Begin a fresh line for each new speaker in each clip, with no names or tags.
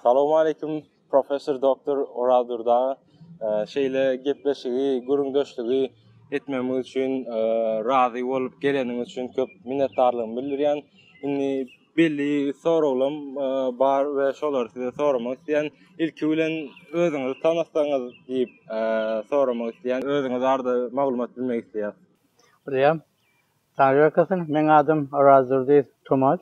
Salowmaleýkim professor doktor Oral Durdaga. Şeýle gepleşigi, gürrüňdeşligi etmegimiz üçin razy bolup geleniň üçin köp minnetdarlygymy bildirýän. Indi belli soraglam bar we şolary size soramak isleýän. Ilki bilen özüňizi tanatsaňyz diýip soramak isleýän. Özüňiz barada maglumat bilmek isleýäs. Bilýän. Taňry ýalkasyn. Meň adym Oral Durdy Tumaç.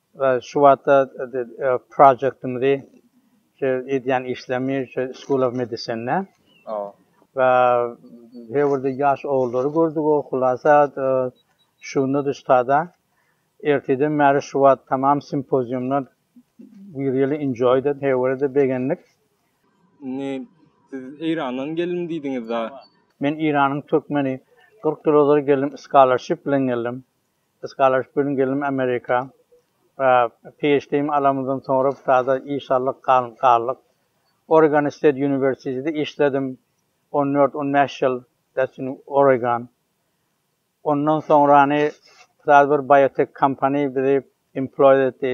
Şu wagtda projektimizi şu edýän işlerimi şu School of Medicine-de we Hewrde ýaş ogullary gördügo hulasa şunda-da ştada erteden bäri şu wagt tamam simpoziumda we really enjoyed it Hewrde begendik. Indi siz Eýrandan geldim diýdiňiz-de? Men Eýranyň türkmeni. Kyrk ýyl ozal geldim scholarship bilen geldim. Scholarship-iň gelinim Amerika. PHD-mi alamyzdan soňra Ptada iş aldyk, galdyk. Oregon State University-de işledim on dört, on bäş ýyl, Destin Oregon. Ondan soňrany Ptada bir biotek kompaniýa bizi emploýed etdi.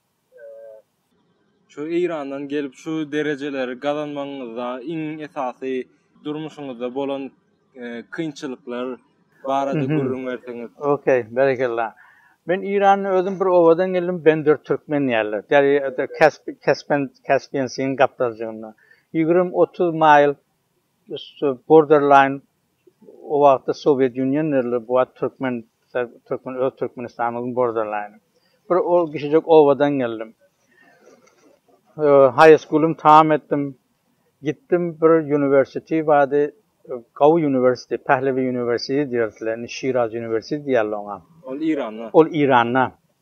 Şu Eýrandan gelip şu derejeleri gazanmagyňyzda iň esasy durmuşyňyzda bolan kynçylyklar barada gürrüň berseňiz. Ok, berekella. Men Eýranda özüm bir obadan geldim Bender Türkmen diýerler. Derýa Kaspen Kaspian Sin gapdalynjygynda. Ýigrimi otuz maýl borderline O wagtda Sowiet Union nerler bu wagt Türkmen Türkmen öz Türkmenistanymyzyň borderline. Bir ol kişijek obadan geldim. High school'um tamam etdim. Gitdim bir university bady Gawy university, Pehlevi university diýerdiler, Şiraz university diýerler oňa. Ol Iranda. Ol Iranda.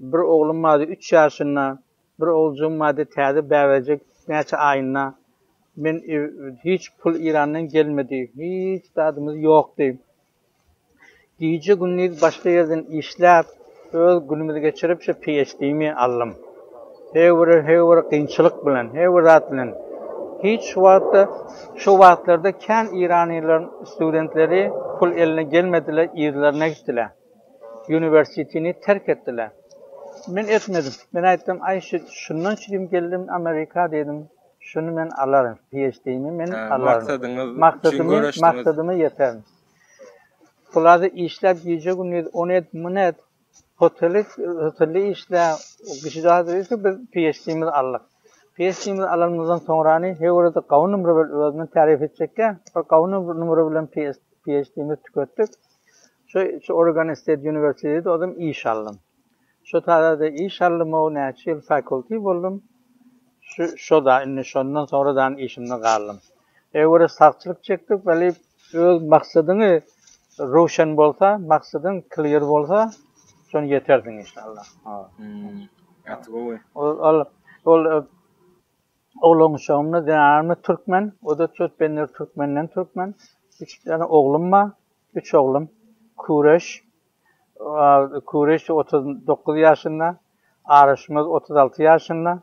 Bir oglum bardy üç ýaşynda, bir oguljygym bardy täze bäbejik näçe aýynda. Men hiç pul Irandan gelmedi, hiç zadymyz ýokdy. Gije gündiz başga ýerden işläp öz günümizi geçirip şu PHD-mi aldym. Her bir her bir kynçylyk bilen, her bir zat bilen. Hiç wagtda şu wagtlarda kän iranylaryň studentleri pul eline gelmediler, yzlaryna gitdiler. Uniwersitini terk etdiler. Men etmedim. Men aýtdym, Aý, şundan çydyp geldim Amerika diýdim. Şuny men alaryn. PHD-mi men alaryn. Maksadyňyz üçin göreşdiňiz. Maksadyma ýeterin. Pulady işläp gije-gündiz ony et, muny et. Hoteli, hotelde işle. Kişijaňa diýdi ki, biz PHD-mizi aldyk. PHD-mizi alanymyzdan soňrany he görede gawun ümri bir özüni tarif etjekkä, bir gawun ümri bilen PHD-mizi tüketdik. Şo şu Oregon State University'de ozüm iş aldym. Şo tazada iş aldym-ow näçe ýyl fakulty boldum. Şu şoda indi şondan soňra dan işimde galdym. Öwre sagçylyk çekdik weli öz maksadyňy röwşen bolsa, maksadyň clear bolsa, şon ýetersiň inşallah. Ol ol ol Oglangyşagymda zenanymda türkmen, oda çöz pendir türkmenden türkmen, üç däne oglum bar, üç oglum, Küreş, Küreş otuz dokuz ýaşynda, Araşmaz otuz alty ýaşynda,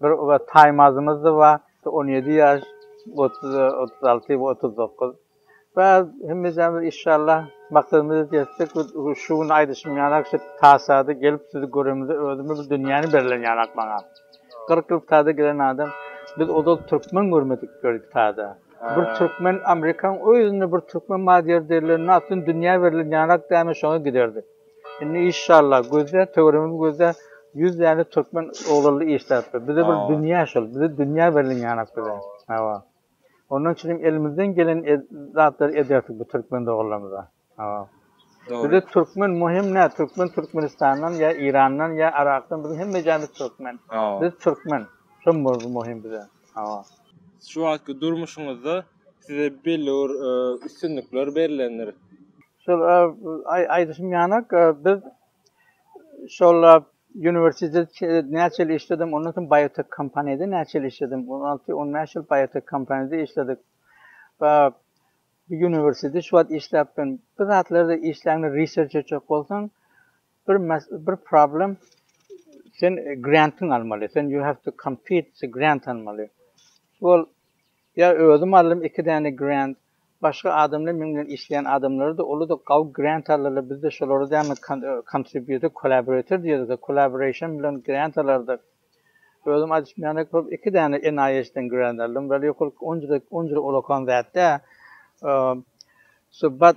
bir Taýmazymyz-da bar, on ýedi ýaş, otuz alty we otuz dokuz. Bäh hemmejamiz işşallah maksadymyza ýetsek şu gün aýdyşym ýanak şu tasada gelip sizi göremizde özüme bir dünýäni berlen ýanak maňa. Kyrk ýyl tada gelen adam biz ozal türkmen görmedik gördük tada. Bir türkmen Amerikaň özünde bir türkmen bar ýer derler na tüm dünýä berlen ýanak däme şoňa giderdik. Indi işşallah gözle töweregimizi gözle ýüz däne türkmen oglanly işläpdir. Bize bir dünýä şol bize dünýä berlen ýanak bize. Hawa. Ondan çyn hem elimizden gelen zatlary ederdik bu türkmen doganlarymyza. Bize türkmen muhim ne? Türkmen Türkmenistandan ya İran'dan ya Irak'tan bizim hemme jayımız türkmen. Biz türkmen. Şu muhim bize. Şu wagtky durmuşyňyzda size belli bir üstünlikler berilendir. Şol aýdyşym ýanak biz Şollap uniwersitet näçe ýyl işledim, ondan soň biotek kompaniýada näçe ýyl işledim. On alty, on bäş ýyl biotek kompaniýada işledik. Ba, bu uniwersitet şu wagt işläpdim. Bir zatlarda işläňde research etjek bolsaň, bir bir problem sen grantyň almaly. Sen you have to compete to grant almaly. Şol Ýa özüm aldym iki däne grant, başga adamlar meň bilen işleýän adamlarada uluda gawy grant aldylar bizde şolara dämi contributor collaborator diýedigä collaboration bilen grant alardyk. Özüm aýdyşmaýanok bolup iki däne NIH den grant aldym weli ýokarky onjada onjada ulakan zat dä. Subat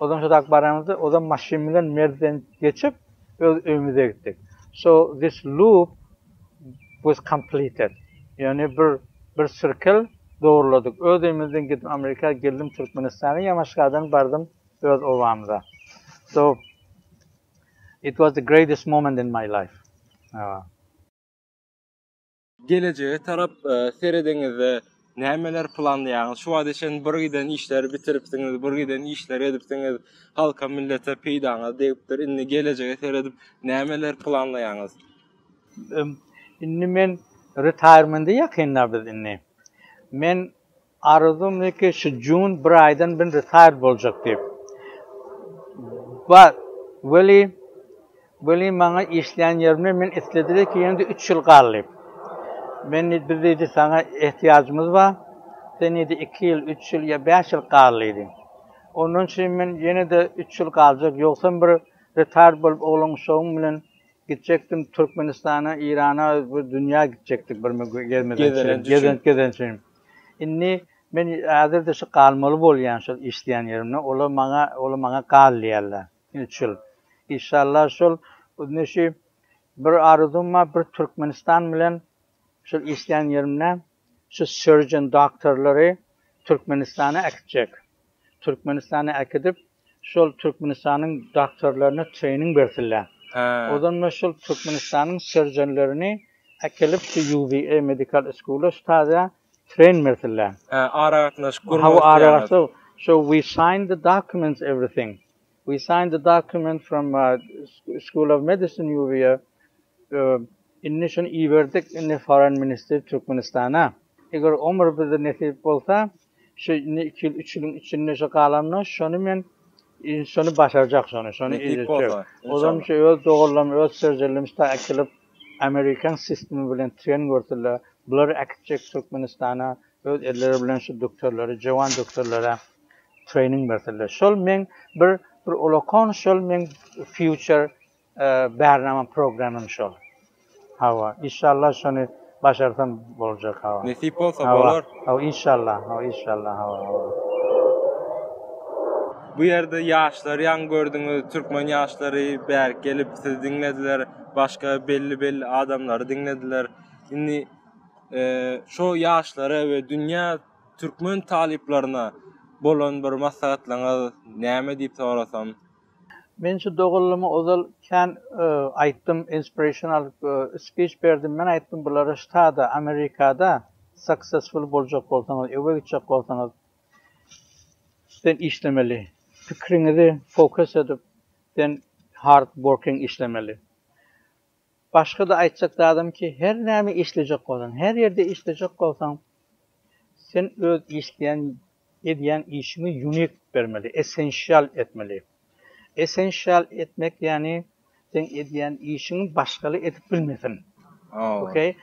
Ozan şodap baramyzda ozan maşyn bilen Merwden geçip öz öýümize gitdik. So this loop was completed. Ýöne bir bir sirkel dogurladyk. Öz öýümizden gidip Amerika geldim Türkmenistana Ýamaşgadan bardym öz obamyza. So it was the greatest moment in my life. Gelejege tarap serediňizde nämeler planlaýaňyz? Şu wagta çenli bir giden işleri bitiripsiňiz, bir giden işleri edipsiňiz, halka, millete peýdaňyz degipdir. Indi gelejege seredip nämeler planlaýaňyz? Indi men retaýrmende ýakynda biz indi. Men Arzumdy ki şu june bir aýdan bin retired boljak diýip. But, weli, weli maňa işleýän ýerimde men islediler ki ýene-de üç ýyl gal diýip. Men diýdi biz diýdi saňa ehtiýajymyz bar. Sen diýdi iki ýyl, üç ýyl ýa bäş ýyl gal diýdi. Ondan üçin men ýene-de üç ýyl galjak ýogsam bir retired bolup oglan uşagym bilen gitjekdim Türkmenistana, Irana, bir dünýä gitjekdik bir gezmeden çykyp, gezent gezen üçin. Indi men häzir-de şu galmaly bolýan şol işleýän ýerimde. Olar maňa, olar maňa gal diýýärler. Üç ýyl. Işallah şol indi şu bir arzuwym bar, bir Türkmenistan bilen şol işleýän ýerimde şu surgeon doktorlary Türkmenistana äkitjek. Türkmenistana äkidip şol Türkmenistanyň doktorlaryna trening bersinler. Ozonda şol Türkmenistanyň serjonlerini äkelip şu UVA Medical School-a şu taze tren bersinler. Hä aragatnaşyk gurmak isleýäňiz. Hawa aragatnaşyk so we sign the documents everything. We sign the document from School of Medicine UVA indi şuny iberdik indi foreign minister Türkmenistana. Eger omur bize nesip bolsa Şu indi iki ýyl, üç ýylyň içinde şu galanda şony men şony başarjak şony, şony eýjek. Ozan şu öz doganlarym, öz serjerlerimiz ta äkilip amerikan sistemi bilen tren görsünler. Bulary äkitjek Türkmenistana öz elleri bilen şu doktorlary, jewan doktorlara trening bersinler. Şol meň bir bir olakan şol meň future Bärnamam programym şol. Hawa, inşallah şony başarsam boljak hawa. Nesip bolsa bolar. Hawa, inşallah, hawa, inşallah, hawa, hawa. Bu ýerde ýaşlary ýaňy gördüňiz, türkmen ýaşlary bärik gelip sizi diňlediler, başga belli-belli adamlary diňlediler. Indi şo ýaşlara we dünýä türkmen talyplaryna bolan bir maslahatlaryňyz näme diýip sorasam, Men şu doganlymy ozal kän aýtdym inspirational speech berdim men aýtdym bulary ştada amerikada successful boljak bolsaňyz öwe gitjek bolsaňyz sen işlemeli pikriňizi focus edip sen hard working işlemeli Başga-da aýtjak zadym ki, her näme işlejek bolsaň, her ýerde işlejek bolsaň, sen öz işleýän, edýän işiňi unik bermeli, essensial etmeli. Essensial etmek ýagny seň edýän işiňi başgaly edip bilmesin. Okey.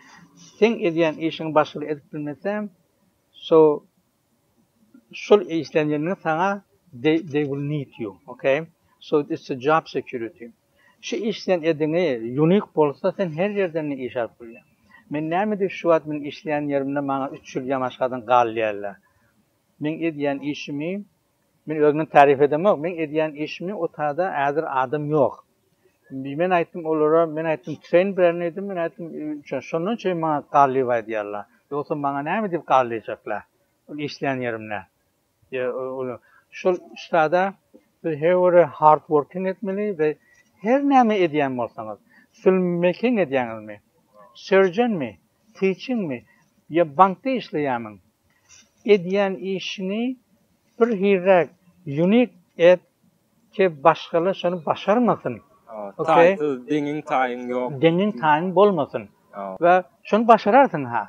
Seň edýän işiňi başgaly edip bilmese, so Şol işlenýänligiň saňa they will need you okay so it's a job security şu işleýän ediňi unique bolsa sen her ýerden iş alyp bilýäň men näme edip şu wagt men işleýän ýerimde maňa üç ýyl ýamaşgadan galýarlar meň edýän işimi Men özümi tarif edemok, men edýän işimi otada äzir adam ýok. Men aýtdym olara, men aýtdym treýn berini edin, men aýtdym üçe, şondan çeýin maňa garlyp aýdýarlar. Ýogsa maňa näme diýip garlyjaklar? Ol işleýän ýerimde. Şol ştada siz her wire hard working etmeli we her näme edýän bolsaňyz, filmmaking edýäňizmi, surgeonmi, teachingmi ýa bankda işleýärmiň, edýän işini bir hizräk unik et ke başgalar şony başarmasyn taýsyz deňiň taýyň ýok deňiň taýyň bolmasyn we şony başararsyň ha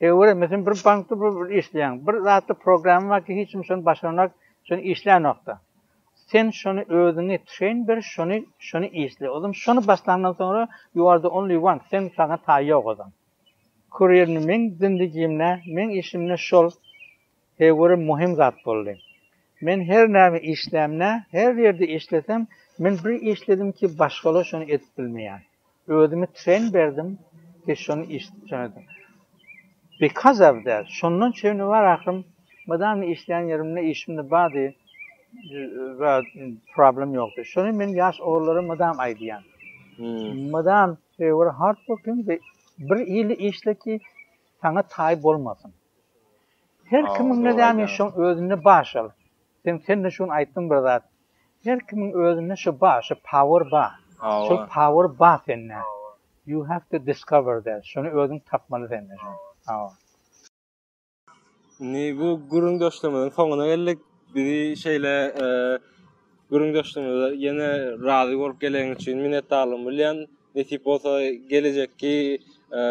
ýöwür meselem bir bankda bir işleýäň bir zatda programma bar ki hiç kim şony başarmak şony işlänokda sen şony özüňi treýn ber şony şony işle ozan şony başlandan soňra ýu ar de only one sen saňa taý ýok ozan. Kurýerni meň zindigimde, meň işimde şol heýweri muhim zat boldy. Men her näme işlämde, her ýerde işlesem, men bir işledim ki başgalar şony edip bilmeýär. Özümi treň berdim ki şony işdip şony edip. Because of that, şondan çenli bar ahyrym mydama işleýän ýerimde işimde bady problem ýokdy. Şony men ýaş ogullara mydama aýdýan. Mydama Trewor Hartburgyn we bir ili işle ki saňa taý bolmasyn. Her kimiň nädämi şoň özünde bar şol. Sen sende şuny aýtdyň bir zat. Her kimiň özünde şu bar, şu power bar. Şol power bar sende. You have to discover that. Şuny özüň tapmaly sende şuny. Hawa. Indi bu gürrüň döşlemeden soňuna geldik. Bizi şeýle e, gürrüň döşlemede ýene razy bolup gelen üçin minnetdarlygymy bilýän. Nesip bolsa gelejekki e,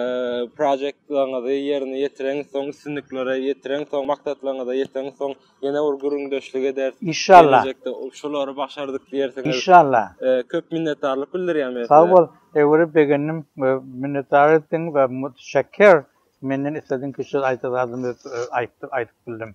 projektlaryňyzy ýerine ýetireň, soň üstünliklere ýetireň, soň maksatlaryňyza ýetireň, soň ýene bir gürrüň döşlük ederis. Inşallah. Geljekde şulary başardyk diýersiňiz. Inşallah. E, köp minnetdarlyk bildirýän men. Sag bol. Öwrüp begendim we minnetdar etdiň we müteşekkir. Menden islediň ki söz aýta zadym ýok aýtdyk aýdyp bildim.